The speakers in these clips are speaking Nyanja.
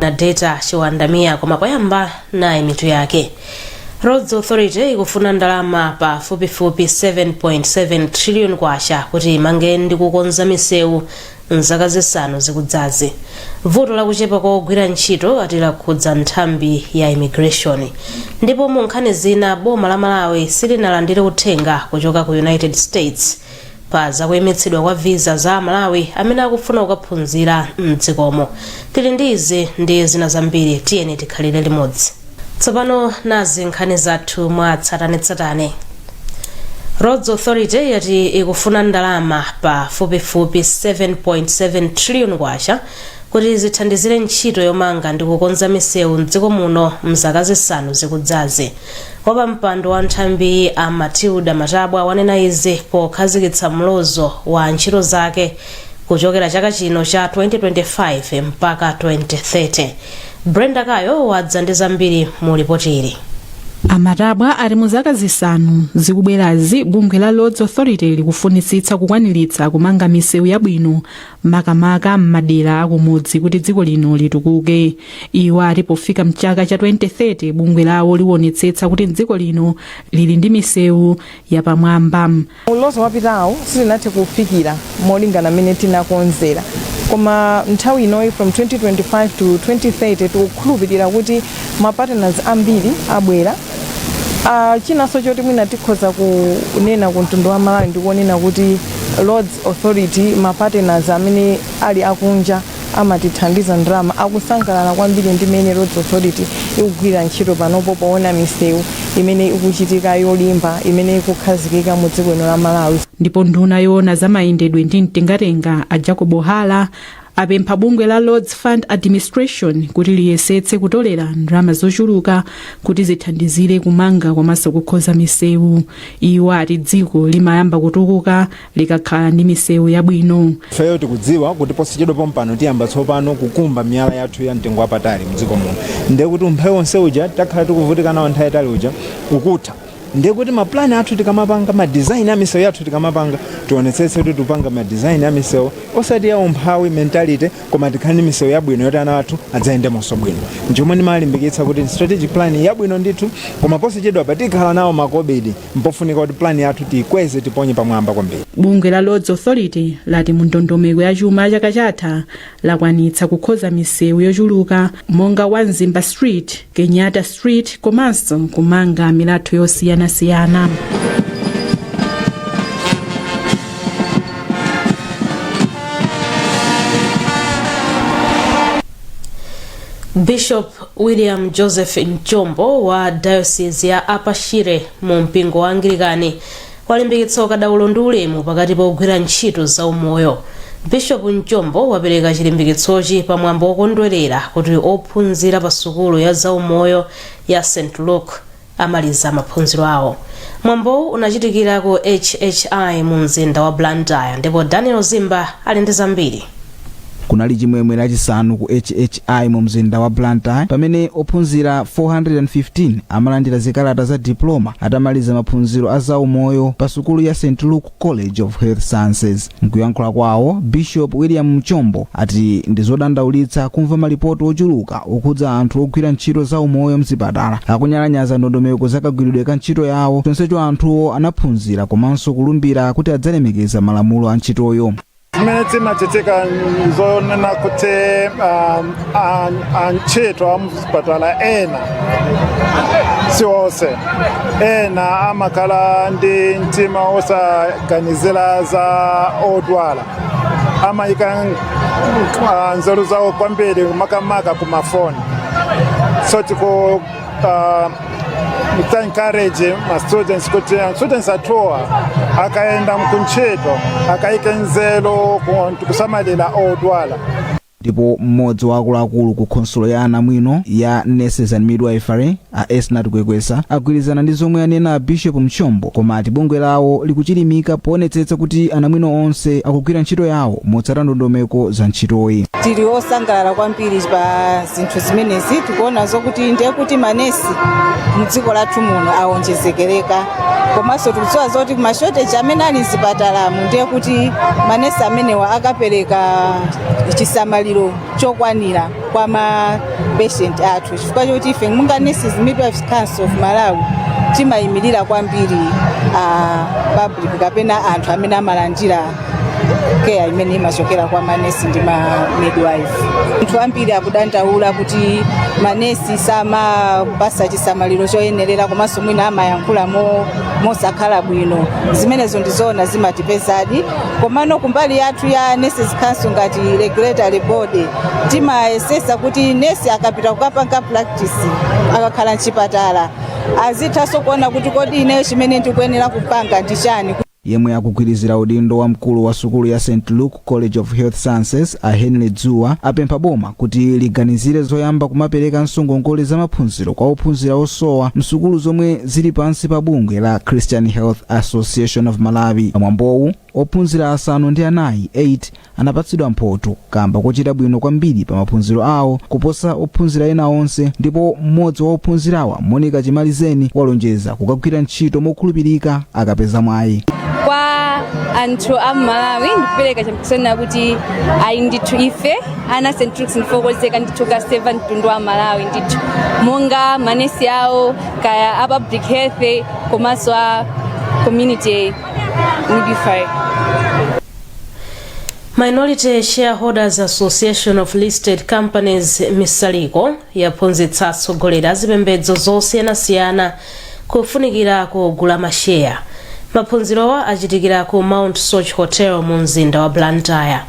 na data chiwandamia koma poyamba nayi mitu yake roads authority ikufuna ndalama pa fupifupi 7.7 trillion kwacha kuti imange ndi kukonza misewu mzaka zisanu zikudzazi vuto lakuchepa kwa ogwira ntchito ati lakhudza nthambi ya immigration ndipo mu nkhani zina boma la malawi silinalandire uthenga kuchoka ku united states pa zakuyimitsidwa kwa visa za amalawi amene akufuna kukaphunzira mdzikomo tili ndi izi ndi zina zambiri tiyeni tikhalire limodzi tsopano nazi nkhani zathu mwa tsatanetsatane roads authority yati ikufuna ndalama pafupifupi 7.7 trillion kwacha kuti zithandizire ntchito yomanga ndi kukonza misewu mdziko muno mzaka zisanu zikudzazi wapampando wa nthambiyi a matilda matabwa wanena izi pokhazikitsa mlozo wa ntchito zake kuchokera chaka chino cha 2025 mpaka 2030 brenda kayo wadza ndi zambiri mu lipoti ili a matabwa ati mu zaka zisanu zikubwerazi bungwe la roads authority likufunitsitsa kukwaniritsa kumanga misewu yabwino makamaka m'madera akumudzi kuti dziko lino litukuke iwo ati pofika mchaka cha 2030 bungwe lawo liwonetsetsa kuti dziko lino lili ndi misewu yapamwamba mlozo wapitawo sitinathe kufikira molingana mmene tinakonzera koma nthawi inoyi from 2025 to 2030 tikukhulupirira kuti ma partners ambiri abwera uh, chinanso choti mwina tikhoza kunena ku mtundu wa malawi ndikunena kuti roads authority ma partners amene ali akunja amatithandiza ndalama akusangalala kwambiri ndi mene roads authority ikugwirira ntchito panopo poona misewu imene ikuchitika yolimba imene ikukhazikika mu dziko lino la malawi ndipo nduna yoona za mayendedwe ndi mtengatenga a jacob hara apempha bungwe la Roads Fund Administration kuti liyesetse kutolera ndalama zochuluka kuti zithandizire kumanga komanso kukhoza misewu iwo ati dziko limayamba kutukuka likakhala ndi misewu yabwino ifeyo tikudziwa kuti posachedwa pompano tiyamba tsopano kukumba miyala yathu ya mtengo wapatali mdziko muno ndiye kuti umphawi wonse uja takhala tikuvutika nawo nthawi yaitali uja ukutha ndiye kuti ma plan athu tikamapanga ma design a misewu yathu tikamapanga tionetsetse kuti tikupanga ma design a misewu osati ya umphawi mentality koma tikhale ndi misewu yabwino yoti ana athu adzayendemonso bwino nchomwe ndimalimbikitsa kuti strategic plan yabwino ndithu koma posachedwapa tikhala nawo makobidi mpofunika kuti plan yathu tiyikweze tiponye pamwamba kwambiri bungwe la roads authority lati mu ndondomeko ya chuma chaka chatha lakwanitsa kukhoza misewu yochuluka monga wa mzimba street kenyatta street komanso kumanga milatho yosiyanasiyana bishop william joseph mchombo wa diocese ya upper shire mu mpingo wa anglikani walimbikitsa ukadaulo ndi ulemu pakati pogwira ntchito za umoyo. Bishop Mchombo wapereka chilimbikitsochi pa mwambo wokondwelera kuti ophunzira pa sukulu ya za umoyo ya St Luke amaliza maphunziro awo. Mwambowu unachitikira ku HHI mu mzinda wa Blantyre ndipo Daniel Zimba ali ndi zambiri. Kunali chimwemwe lachisanu ku HHI mu mzinda wa Blantyre pamene ophunzira 415 amalandira zikalata za diploma atamaliza maphunziro a zaumoyo pa sukulu ya St Luke College of Health Sciences. Mkuyankhula kwawo, Bishop William Mchombo ati ndi zodandaulitsa kumva malipoti ochuluka okhudza anthu ogwira ntchito zaumoyo mzipatala akunyalanyaza ndondomeko za kagwiridwe ka ntchito yawo chonsecho anthuwo anaphunzira komanso kulumbira kuti adzalemekeza malamulo a ntchitoyo. zimene zimachitika zonena kuti um, an- antchito amuzipatala ena si onse ena amakhala ndi mtima wosaganizira za odwala amayika ah, nzeru zawo kwambiri makamaka ku mafoni so tiku uh, encourage ma students kuti uh, students athuwa akayenda kuntchito akayike nzeru ku- kusamalira odwala ndipo mmodzi wa akuluakulu ku khonsolo ya anamwino ya nurses and midwifery a esnat kwekwesa agwirizana ndi zomwe anena a bishop mchombo koma ati bungwe lawo likuchilimika poonetsetsa kuti anamwino onse akugwira ntchito yawo motsata ndondomeko za ntchitoyi tili osangalala kwambiri pa zinthu zimenezi tikuona zokuti ndiye kuti manesi mdziko lathu muno awonjezekereka komanso tikudziwa zoti mashoteji amene ali mzipatalamu ndiye kuti manesi amenewa akapereka chisamaliro chokwanira kwa mapeshenti athu chifukwa choti ife monga nurses midwives council of malawi timayimirira kwambiri uh, public kapena anthu amene amalandira care imene imachokera kwa manesi ndi ma midwife anthu ambiri akudandaula kuti manesi samawapatsa chisamaliro choyenerera komanso mwina amayankhula mo- mosakhala bwino zimenezo ndizoona zimatipezadi komano kumbali yathu ya nurses council ngati regulatory body timayesesa kuti nesi akapita kukapanga practice akakhala mchipatala azithanso kuona kuti kodi ineyo chimene ndikuyenera kupanga ndi chani Yemwe akugwirizira udindo wa mkulu wa sukulu ya St Luke College of Health Sciences a Henry Dzuwa apempha boma kuti liganizire zoyamba kumaperekanso ngongole za maphunziro kwa ophunzira osowa msukulu zomwe zili pansi pa bungwe la Christian Health Association of Malawi. Pamwambowu ophunzira asanu ndi anayi 8 anapatsidwa mphoto kamba kochita bwino kwambiri pa maphunziro awo kuposa ophunzira ena onse ndipo mmodzi wa ophunzirawa monica chimalizeni walonjeza kukagwira ntchito mokhulupirika akapeza mwayi kwa anthu a mmalawi ndikupereka chitsimikizo kuti ayi ndithu ife ana a st luke's ndife okonzeka ndithu kukaseva mtundu wa amalawi ndithu monga manesi awo kaya a public health komanso a community midwifery minority shareholders association of listed companies misaliko yaphunzitsa atsogoleri azipembedzo zosiyanasiyana kufunikira kogula masheya maphunzirowa achitikira ku mount soche hotel mu mzinda wa blantyre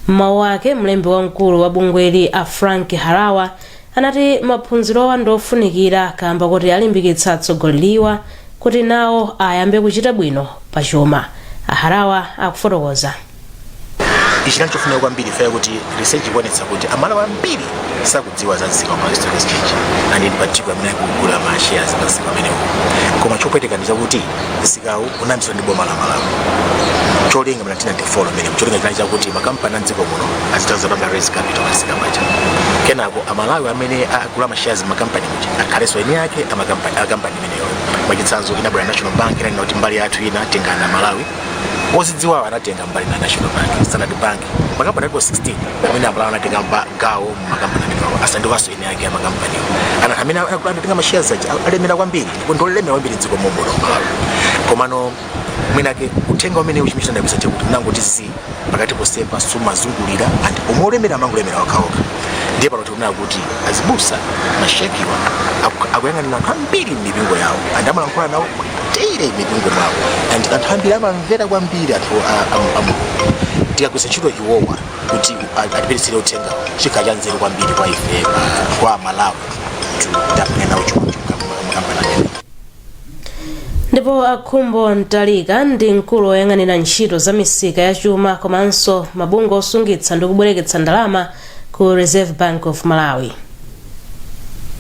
mmawu ake mlembi wamkulu wa bungweli a frank harawa anati maphunzirowa ndi ofunikira kaamba kuti alimbikitsa atsogoleriwa kuti nawo ayambe kuchita bwino pa chuma. A Harawa akufotokoza. Ichi chinali chofunika kwambiri chifukwa chakuti research ikuonetsa kuti Amalawi ambiri sakudziwa za msika wa Malawi Stock Exchange and in particular amene akugula ma shares pa msika umenewu. Koma chopweteka ndi chakuti msikawu unayambitsidwa ndi boma la malawi cholinga mu 1994 mmene cholinga chinali chakuti makampani a mdziko muno azitha kupanga raise capital pamsika paja kenako amalawi amene agula mashares makampani muja akhalenso eni ake a makampani- a kampani imeneyo mwachitsanzo inabwera national bank inanena kuti mbali yathu ina tengani amalawi ozidziwawo anatenga mbali na national bank standard bank makampani aliko 16 amene amalawi anatenga mba- gawo makampani amenewo asandukanso eni ake amakampani and amene aku- anatenga mashares aja al- alemera kwambiri ndipo ndiolemera kwambiri mdziko momuno malawi komano mwinake uthenga umenewu amachita ngati abisa chakuti mnangoti zi pakati posepa siumazungulira and omwe olemera amangolemera okhaokha ndiye pano tikunena kuti azibusa mashekiwa aku- akuyang'anira anthu ambiri m'mipingo yawo and amalankhula nawo daily m'mipingo mwawo and anthu ambiri amamvera kwambiri anthu a- a- a Mulungu tikagwiritsa ntchito iwowa kuti atipititsire uthenga chikhala cha nzeru kwambiri kwa ife kwa malawi tapinga nawo chokambirana ndipo akhumbo mtalika ndi mkulu woyang'anira ntchito za misika ya chuma komanso mabungwe osungitsa ndi kubwereketsa ndalama ku reserve bank of malawi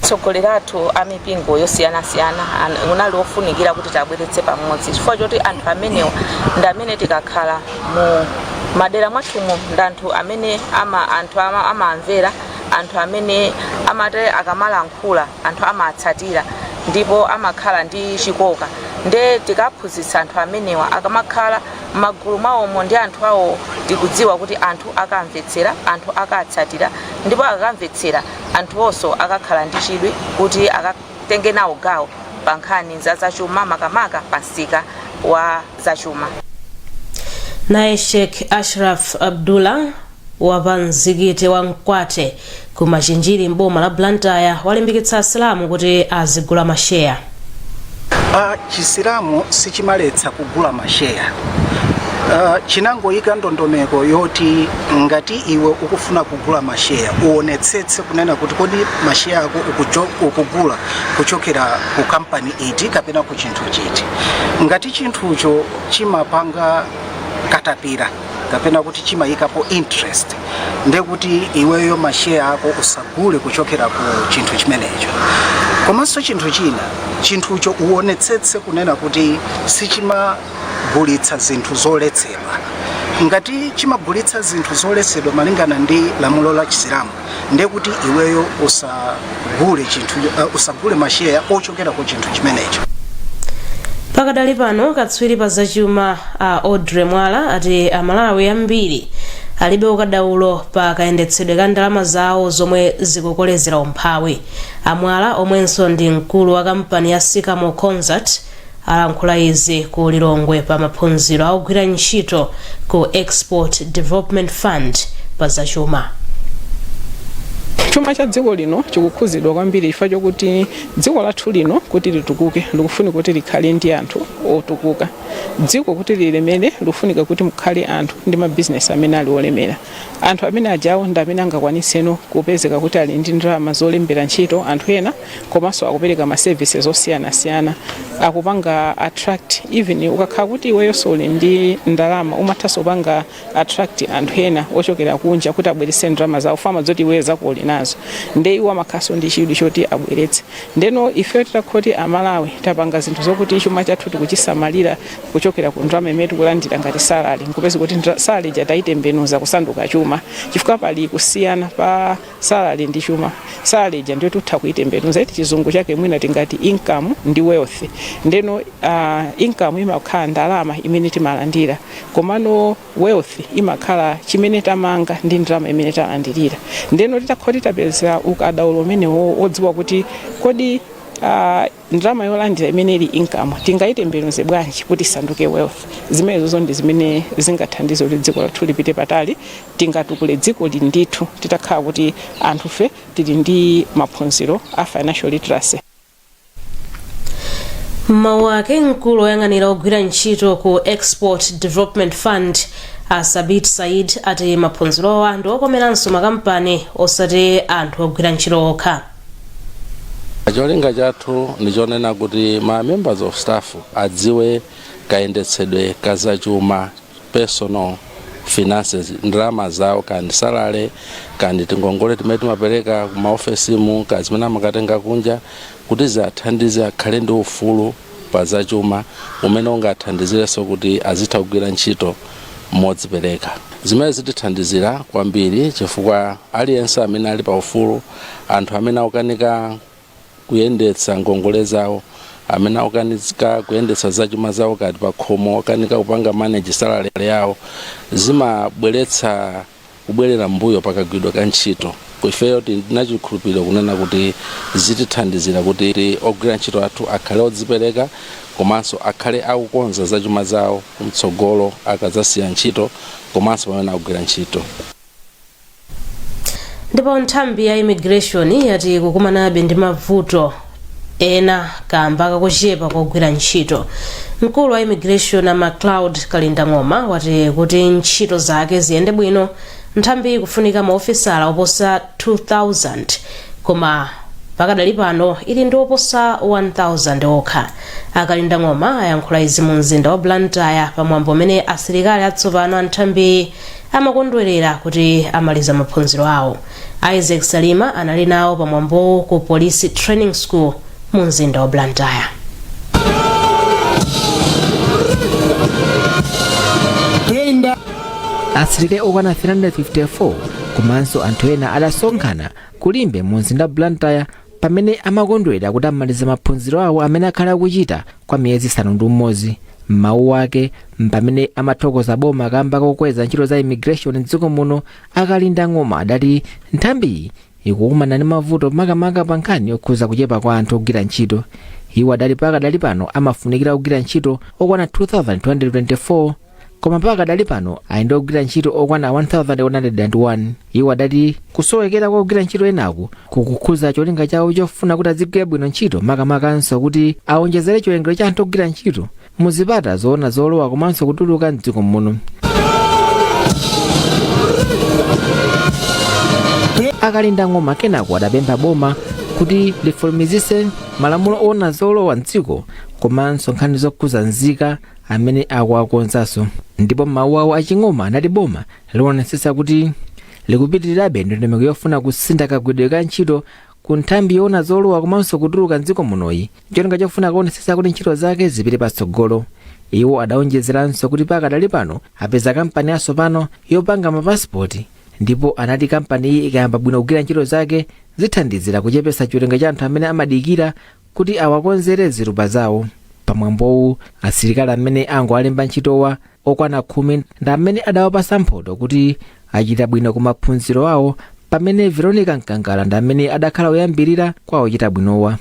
Atsogoleri athu a mipingo yosiyanasiyana an- unali wofunikira kuti tiwabweretse pamodzi chifukwa choti anthu amenewa ndi amene tikakhala mu madera mwathumo ndi anthu amene ama, anthu ama, amawamvera anthu amene amati akamalankhula anthu amatsatira ndipo amakhala ndi chikoka nde tikaphunzitsa anthu amenewa akamakhala mmagulu mwawomo ndi anthu awo tikudziwa kuti anthu akamvetsera, anthu akatsatira ndipo akakamvetsera anthuwonso akakhala ndi chidwi kuti akatenge nawo gawo pa nkhani za zachuma makamaka pa msika wa zachuma. Naye Sheikh Ashraf Abdullah wa pa mzikiti wa Mkwate ku Machinjiri m'boma la Blantyre walimbikitsa Asilamu kuti azigula masheya. Chisilamu sichimaletsa kugula masheya Ah, chinangoyika ndondomeko yoti ngati iwe ukufuna kugula masheya uonetsetse kunena kuti kodi masheya ako ukucho- ukugula kuchokera ku kampani iti kapena ku chinthu chiti ngati chinthucho chimapanga katapira kapena kuti chimayikapo interest ndiye kuti iweyo masheya ako usagule kuchokera ku chinthu chimenecho komanso chinthu china chinthucho uonetsetse kunena kuti sichimagulitsa zinthu zoletsedwa ngati chimagulitsa zinthu zoletsedwa malingana ndi lamulo la chisilamu ndekuti iweyo usagule chinthu uh, usagule masheya ochokera ku chinthu chimenecho pakadali pano katswiri pa zachuma a Audrey Mwala ati Amalawi ambiri alibe ukadaulo pa kayendetsedwe ka ndalama zawo zomwe zikukolezera umphawi a Mwala omwenso ndi mkulu wa kampani ya Sycamore Consult alankhula izi ku Lilongwe pa maphunziro a ogwira ntchito ku Export Development Fund pa zachuma. Chuma cha dziko lino chikukhuzidwa kwambiri chifukwa chokuti dziko lathu lino kuti litukuke likufunika kuti likhale ndi anthu otukuka. Dziko kuti lilemere likufunika kuti mukhale anthu ndi mabizinesi amene ali olemera. Anthu amene ajawo ndi amene angakwanitseno kupezeka kuti ali ndi ndalama zolembera ntchito anthu ena komanso akupereka ma services osiyanasiyana akupanga attract even ukakhala kuti iweyo suli ndi ndalama umathanso kupanga attract anthu ena ochokera kunja kuti abweretse ndalama zawo fanazoti iweyo zako uli nazo nde iwo amakhalanso ndi chidwi choti abweretse ndeno ifeyo titakhoti amalawi tapanga zinthu zokuti chuma chathu tikuchisamalira kuchokera ku ndalama imene tikulandira ngati salary nkupezeka kuti ndra- salary ija tayitembenuza kusanduka chuma chifukwa pali kusiyana pa Salary ndi chuma. Salary ija ndiyo titha kuitembenuza eti chizungu chake mwina tingati income ndi wealth. Ndeno uh, income imakhala ndalama imene timalandira komano wealth imakhala chimene tamanga ndi ndalama imene talandirira. Ndeno titakhala titapeza ukadaulo umenewo odziwa kuti kodi uh, Ndalama yolandira imene ili income tingaitembenuze bwanji kuti isanduke wealth? Zimenezozo ndi zimene zingathandize kuti dziko lathu lipite patali. Tingatukule dzikoli ndithu titakhala kuti anthufe tili ndi maphunziro a financial literacy. M'mawu ake, mkulu woyang'anira ogwira ntchito ku Export Development Fund, a Sabit Said, ati maphunzirowa ndi okomeranso makampani osati anthu ogwira ntchito okha. cholinga chathu ndichonena kuti ma members of staff adziwe kayendetsedwe ka zachuma personal finances ndalama zawo kaya ndi salary kaya ndi tingongole timene timapereka ku maofesimu kaya zimene amakatenga kunja kuti ziathandize akhale ndi ufulu pa zachuma umene ungathandizirenso kuti azitha kugwira ntchito modzipereka zimene zitithandizira kwambiri chifukwa aliyense amene ali pa ufulu anthu amene akukanika kuyendetsa ngongole zawo amene akukanika kuyendetsa zachuma zawo kaya ndi pakhomo okanika kupanga manage salary yawo zimabweretsa kubwerera mbuyo pakagwidwa ka ntchito ifeyo tili ndi chikhulupiriro kunena kuti zitithandizira kuti ogwira ntchito athu akhale odzipereka komanso akhale akukonza zachuma zawo kumtsogolo akadzasiya ntchito komanso pamene akugwira ntchito ndipo nthambi ya immigration yati ikukumanabe ndi mavuto ena kamba kakuchepa kwa ogwira ntchito mkulu wa immigration a macloud kalindang'oma wati kuti ntchito zake ziyende bwino nthambiyi ikufunika maofisala oposa 2000 koma pakadali pano ili ndi oposa 1000 okha a kalindang'oma ayankhula izi mu mzinda wa blantyre pamwambo umene asilikali atsopano a nthambiyi amakondwerera kuti amaliza maphunziro awo. Isaac Salima anali nawo pa mwambowu ku Police Training School mu mzinda wa Blantyre. asilikali okwana 354 komanso anthu ena adasonkhana ku Limbe mu mzinda wa Blantyre pamene amakondwera kuti amaliza maphunziro awo amene akhala akuchita kwa miyezi isanu ndi umodzi m'mawu ake mpamene amathokoza boma kamba kokweza ntchito za immigration mdziko muno a kalindang'oma adati nthambiyi ikukumana ndi mavuto makamaka pa nkhani yokhuza kuchepa kwa anthu ogwira ntchito iwo adati pakadali pano amafunikira ogwira ntchito okwana 2224 koma pakadali pano ali ndi ogwira ntchito okwana 1101 iwo adati kusowekera kwa ogwira ntchito enaku kukukhuza cholinga chawo chofuna kuti adzigwira bwino ntchito makamakanso kuti awonjezere chiwerengero cha anthu ogwira ntchito mu zipata zoona zolowa komanso kutuluka mdziko muno a kalindang'oma kenako adapempha boma kuti lifulumizitse malamulo oona zolowa mdziko komanso nkhani zokhuza nzika amene akuwakonzanso ndipo m'mawu awo a ching'oma anati boma lionetsetsa kuti likupitirizabe ndondomeko yofuna kusintha kagwiridwe ka ntchito ku nthambi yoona zolowa komanso kutuluka mdziko munoyi cholinga chofuna kuonetsetsa kuti ntchito zake zipite patsogolo iwo adaonjezeranso kuti pakadali pano apeza kampani yatsopano yopanga mapasipoti ndipo anati kampani iyi ikayamba bwino kugwira ntchito zake zithandizira kuchepetsa chiwerengero cha anthu amene amadikira kuti awakonzere ziphaso zawo pamwambowu asilikali amene angowalemba ntchitowa okwana khumi ndi amene adawapasa mphoto kuti achita bwino ku maphunziro awo pamene veronica mkangala ndi amene adakhala woyambirira kwa ochita bwinowa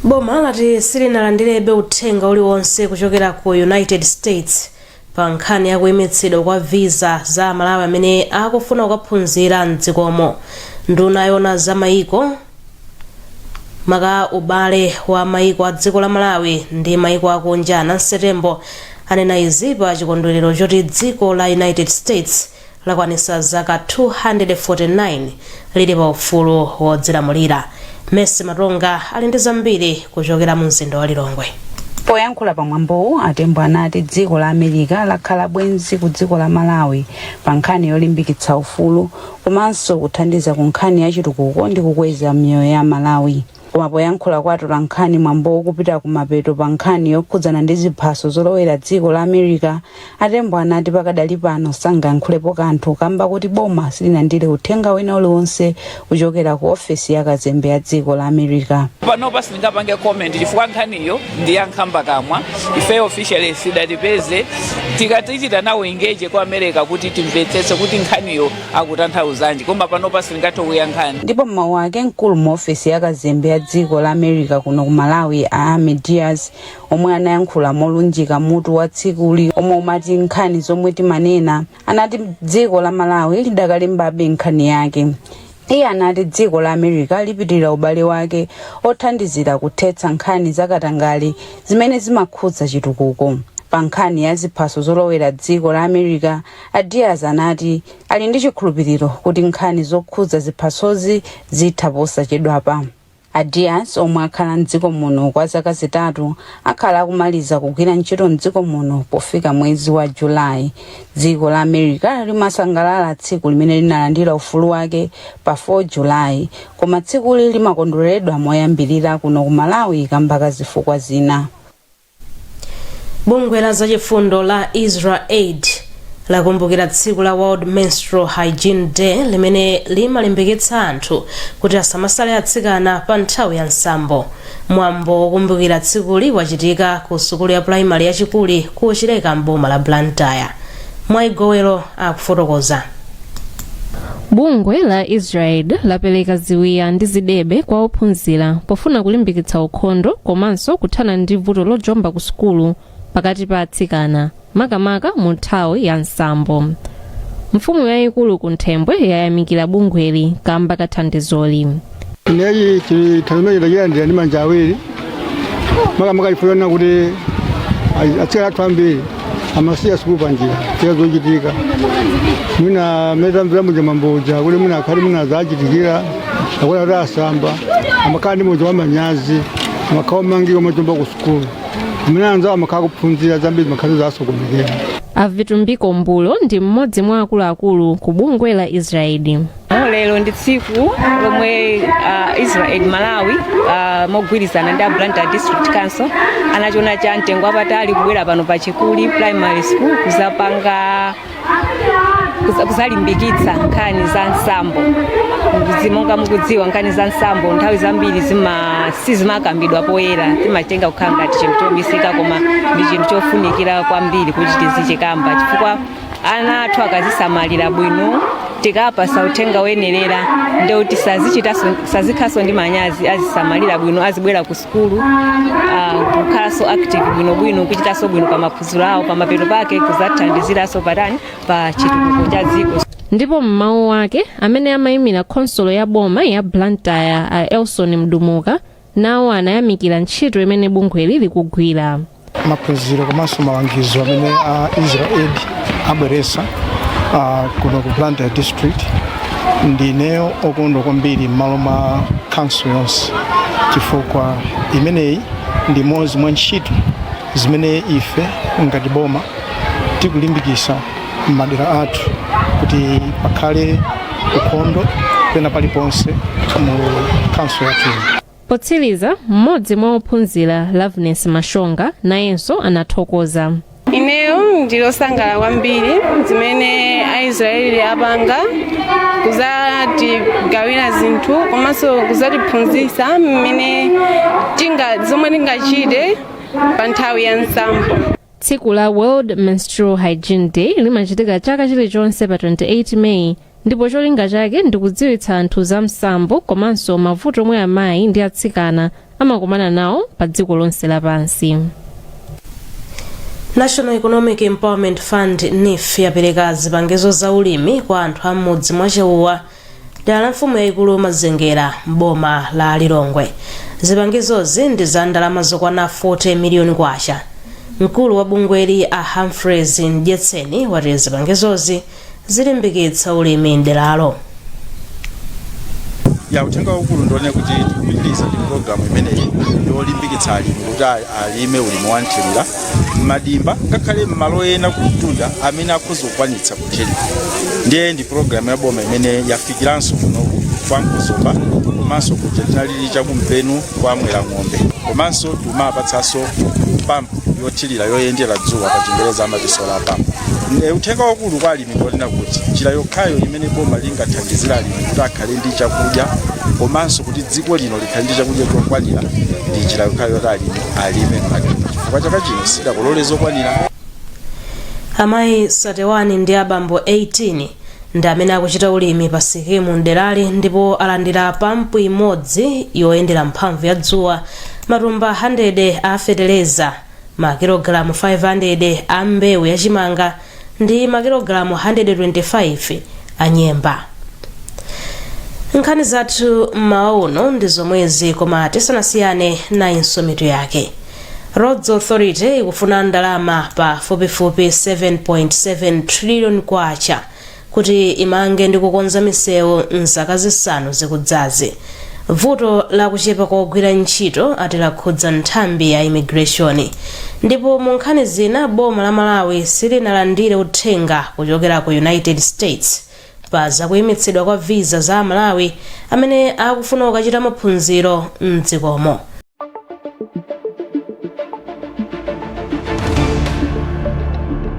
boma lati silinalandirebe uthenga uliwonse kuchokera ku united states pa nkhani ya kuimitsidwa kwa visa za amalawi amene akufuna kukaphunzira mdzikomo nduna yoona za mayiko maka ubale wa mayiko a dziko la malawi ndi mayiko akunja nancy tembo anena izi pa chikondwerero choti dziko la united states lakwanitsa zaka 249 lili pa ufulu wodzilamulira. Mercy Matonga ali ndi zambiri kuchokera mu mzinda wa Lilongwe. Poyankhula pa mwambowu, a Tembo anati dziko la America lakhala bwenzi ku dziko la Malawi pa nkhani yolimbikitsa ufulu komanso kuthandiza ku nkhani ya chitukuko ndi kukweza miyoyo ya Amalawi. Koma poyankhula kwa atolankhani mwambowu ukupita kumapeto pa nkhani yokhudzana ndi ziphaso zolowera dziko la America, a Tembo anati pakadali pano sangayankhulepo kanthu kamba koti boma silinalandire uthenga wina uliwonse kuchokera ku ofesi ya kazembe ya dziko la America. panopa sindingapange comment chifukwa nkhaniyo ndi ya nkhamba kamwa ifeyo officially sidatipeze tikati tichita nawo engage a ku america kuti timvetsetse kuti nkhaniyo akutanthauzanji koma panopa sindingathe kuyankha ndipo m'mawu ake mkulu mu ofesi ya kazembe ya dziko la america kuno ku malawi a amy diaz omwe anayankhula molunjika mutu wa tsikuli omwe umati nkhani zomwe timanena anati dziko la malawi lidakalembabe nkhani yake iye anati dziko la america lipitiriza ubale wake othandizira kuthetsa nkhani zakatangale zimene zimakhudza chitukuko pa nkhani ya ziphaso zolowera dziko la america A Diaz anati ali ndi chikhulupiriro kuti nkhani zokhudza ziphasozi zitha posachedwapa. A Diaz omwe akhala m'dziko muno kwa zaka zitatu akhala akumaliza kugwira ntchito m'dziko muno pofika mwezi wa July. Dziko la America limasangalala tsiku limene linalandira ufulu wake pa 4 July koma tsikuli limakondweredwa moyambirira kuno ku Malawi kamba ka zifukwa zina. bungwe la zachifundo la israaid lakumbukira tsiku la world menstrual hygiene day limene limalimbikitsa anthu kuti asamasale atsikana pa nthawi ya msambo mwambo wokumbukira tsikuli wachitika ku sukulu ya pulaimali ya chikuli ku chileka mboma la blantyre mwai gowero akufotokoza bungwe la israel lapereka ziwiya ndi zidebe kwa ophunzira pofuna kulimbikitsa ukhondo komanso kuthana ndi vuto lojomba ku sukulu pakati pa atsikana makamaka mu nthawi ya msambo mfumu yayikulu kunthembwe yayamikira bungweli kamba ka thandizoli Ine chithandizochi ndachilandira ndi manja awiri makamaka chifukwa chonena kuti atsikana athu ambiri amasiya sukulu panjira chifukwa zochitika mwina mmene tamvera muja mmambomuja kuti mwina akhale mwina zawachitikira akuti asamba amakhala ndi muja wamanyazi amakhala omangika amajomba ku sukulu mmene anzawo amakhala akuphunzira zambiri zimakhala zasokonekera A Vitumbiko Mbulo ndi mmodzi mwa akuluakulu ku bungwe la Israeli. lero ndi tsiku lomwe uh, israel malawi uh, mogwirizana ndi a blantyre district council anachona cha mtengo wapatali kubwera pano pa chikuli primary school kuzapanga kuza- kuzalimbikitsa nkhani za msambo monga mukudziwa nkhani za msambo nthawi zambiri zima sizimakambidwa poyera timachitenga kukhala ngati chinthu chobisika koma ndi chinthu chofunikira kwambiri kuti tizichikamba chifukwa ana athu akazisamalira bwino tikawapatsa uthenga woyenerera ndiye kuti sazikhalanso ndi manyazi azisamalira bwino azibwera ku sukulu ah, kukhalanso active bwinobwino kuchitanso bwino pa maphunziro awo pamapeto pake kuzathandiziranso patani pa chitukuko cha dziko ndipo m'mawu awo amene amayimira khonsolo ya boma ya blantyre a elson mdumuka nawo anayamikira ntchito imene bungweli likugwira maphunziro komanso malangizo amene a israaid abweretsa uh, kuno ku blantyre district ndine okondwa kwambiri m'malo mwa council yonse chifukwa imeneyi ndi imodzi mwa ntchito zimene ife ngati boma tikulimbikisa m'madera athu kuti pakhale ukhondo pena paliponse mu khonsolo yathu ino. potsiriza mmodzi mwa ophunzira loveness mashonga nayenso anathokoza ineyo ndili osangala kwambiri zimene aisraeli apanga kuzatigawira zinthu komanso kuzatiphunzisa mmene tinga zomwe tingachite pa nthawi ya msambo tsiku la world menstrual hygiene day limachitika chaka chilichonse pa 28 meyi ndipo cholinga chake ndi kudziwitsa anthu za msambo komanso mavuto omwe amayi ndi atsikana amakumana nawo pa dziko lonse lapansi national economic empowerment fund neef yapereka zipangizo za ulimi kwa anthu am'mudzi mwa chauwa dera la mfumu yayikulu mazengera m'boma la lilongwe zipangizozi ndi za ndalama zokwana 40 miliyoni kwacha mkulu wa bungweli a humphreys mdyetseni wati zipangizozi zilimbikitsa ulimi mderalo ya uthenga waukulu ndi wonena kuti tikupitiriza ndi programu imeneyi yolimbikitsa alimi kuti a- alime ulimi wa nthirira m'madimba ngakhale m'malo ena kumtunda amene akhoza kukwanitsa kuthirira ndiye ndi pologalamu ya boma imene yafikiranso kunoku kwa mkuzomba komanso kuja tinalili chakumpenu kwa mwera ng'ombe komanso tikumawapatsanso pampu yothirira yoyendera dzuwa pa chingereza amati solar pump uthenga wakulu kwa alimi Ndi wonena kuti njira yokhayo imene boma lingathandizire alimi kuti akhale ndi chakudya komanso kuti dziko lino likhale ndi chakudya chokwanira ndi njira yokhayo yoti alimi alime mmadimba chifukwa chaka chino sitidakolole zokwanira amayi 31 ndi abambo 18 ndi amene akuchita ulimi pa sikimu mderali ndipo alandira pampu imodzi yoyendera mphamvu ya dzuwa matumba 100 a fetereza makilogalamu 500 a mbewu yachimanga ndi makilogalamu 125 a nyemba nkhani zathu mmawa uno ndi zomwezi koma tisanasiyane nayinso mitu yake roads authority ikufuna ndalama pafupifupi 7.7 trillion kwacha kuti imange ndi kukonza misewu m'zaka zisanu zikudzazi vuto la kuchepa kwa ogwira ntchito ati lakhudza nthambi ya imigireshoni ndipo mu nkhani zina boma la malawi silinalandire uthenga kuchokera ku united states pa zakuyimitsidwa kwa visa za amalawi amene akufuna kukachita maphunziro mdzikomo